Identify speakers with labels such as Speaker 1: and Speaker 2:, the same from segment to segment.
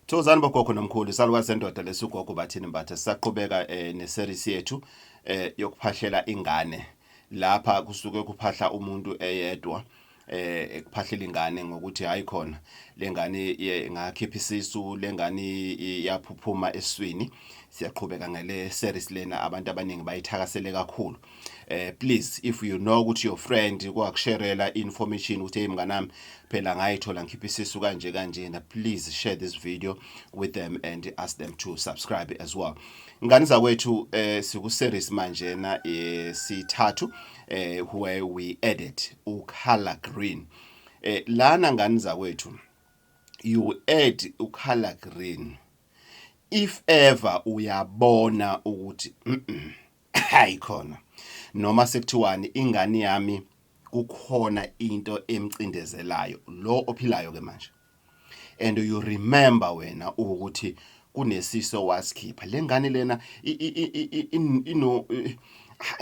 Speaker 1: Thokozani bogogo nomkhulu isalukazi sendoda lesugogo bathini mbatha sisaqhubeka eh, neseries yethu eh, yokuphahlela ingane lapha kusuke kuphahla umuntu eyedwa eh kuphahlela ingane ngokuthi hayi khona lengane ingakhipha isisu lengane iyaphuphuma eswini siyaqhubeka ngale series lena abantu abaningi bayithakasele kakhulu eh please if you know ukuthi your friend kwakusherela information ukuthi hey mnganami phela ngayithola ngikhipha isisu kanje kanjena please share this video with them and ask them to subscribe as well ngani zakwethu eh siku series manje na eh, sithathu eh where we edit u color green eh lana ngani zakwethu you add u color green if ever uyabona ukuthi mm -mm, hayi khona noma sekuthiwani ingane yami kukhona into emcindezelayo lo ophilayo ke manje and you remember wena ukuthi kunesiso wasikhipha lengane lena ino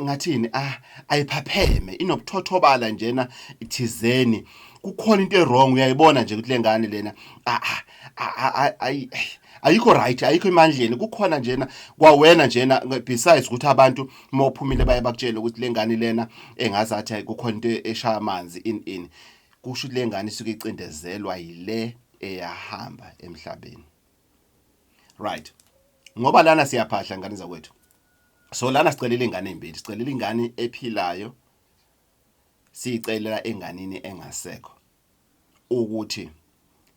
Speaker 1: ngathini ah ayiphapheme inobuthothobala njena ithizeni kukhona into ewrong uyayibona nje ukuthi lengane lena ah, ah, ah, ayikho right ayikho emandleni kukhona njena kwawena njena besides ukuthi abantu uma uphumile baye bakutshela ukuthi lengane lena engazi athi kukhona into eshaya amanzi in in kusho ukuthi lengane isuke icindezelwa yile eyahamba emhlabeni right ngoba lana siyaphahla ngane zakwethu so lana sicelela ingane ezimbili sicelela ingane ephilayo siyicelela enganini engasekho ukuthi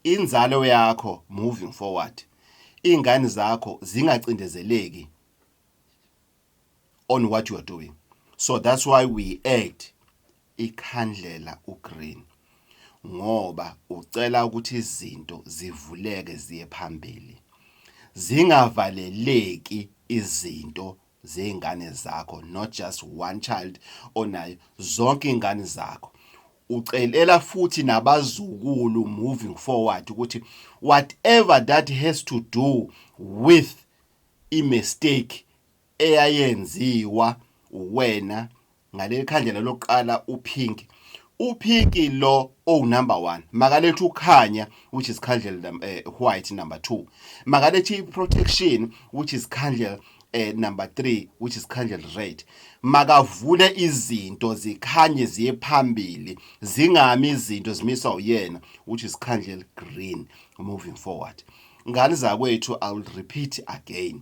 Speaker 1: inzalo yakho moving forward iy'ngane zakho zingacindezeleki on what you are doing so that's why we add ikhandlela ugreen ngoba ucela ukuthi izinto zivuleke ziye phambili zingavaleleki izinto zeyingane zakho not just one child onayo zonke ingane zakho ucelela futhi nabazukulu moving forward ukuthi whatever that has to do with i mistake eyayenziwa wena ngaleli khandlela lokuqala uphinki uphinki lo owunumber 1 makalethe ukhanya which is khandlela um, eh, white number 2 makalethe i-protection which is khandlela eh, number 3 which is khandlela red makavule izinto zikhanye ziye phambili zingami izinto zimiswa uyena which is khandlela green moving forward ngane zakwethu i will repeat again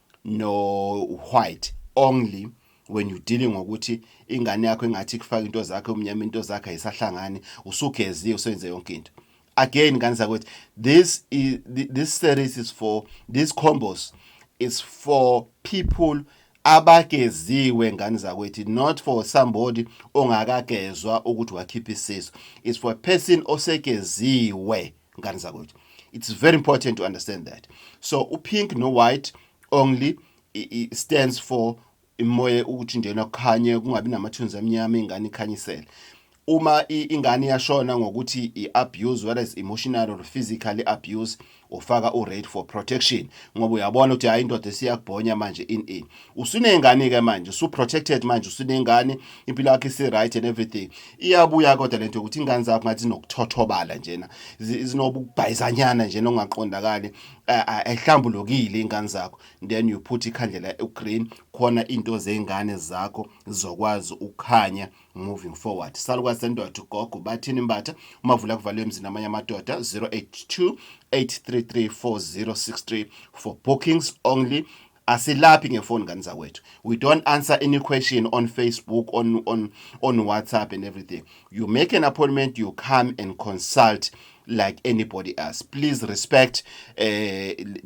Speaker 1: no white only when you dealing ngokuthi ingane yakho engathi kufaka into zakhe umnyama into zakhe ayisahlangani usugeziwe usenze yonke into again ngane zakwethu this is this series is for these combos is for people abageziwe ngane zakwethu not for somebody ongakagezwa ukuthi wakhipha isiso is for a person osegeziwe ngani zakwethu it's very important to understand that so upink no white only it stands for imoya ukuthi nje nakukhanye kungabi namathunzi amnyama ingane ikhanyisele uma ingane yashona ngokuthi i-abuse whether is emotional or physically abuse ufaka u-rate for protection ngoba uyabona ukuthi hhayi indoda esiyakubhonya manje in in usuneyngane ke manje su protected manje usuneyngane impilo yakhe isi right and everything iyabuya kodwa lento ukuthi ingane zakho ngathi nokuthothobala njena zinobubhayizanyana njena ongaqondakali ayihlambulukile ingane zakho then you put ikhandlela ugreen khona into zengane zakho zizokwazi ukukhanya moving forward salukwazi sendoda ugogo bathini mbatha umavula kuvalwe emzini amanye amadoda 082 833 4063 for bookings only asilaphi ngefoni ngani zakwethu we don't answer any question on facebook on, on, on whatsapp and everything you make an appointment you come and consult like anybody else please respect uh,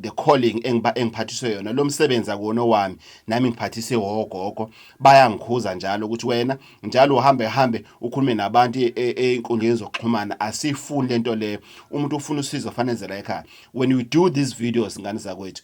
Speaker 1: the calling engiphathiswe yona lo msebenzi akuwona wami nami ngiphathise wogogo bayangikhuza njalo ukuthi wena njalo uhambe hambe ukhulume nabantu e, e, einkundleni zokuxhumana asifuni lento leyo umuntu ufuna usizo fanezela ekhaya when you do these videos ngani zakwethu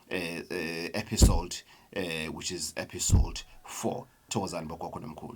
Speaker 1: uh, uh, episode uh, which is episode 4 thokozani bogogo nomkhulu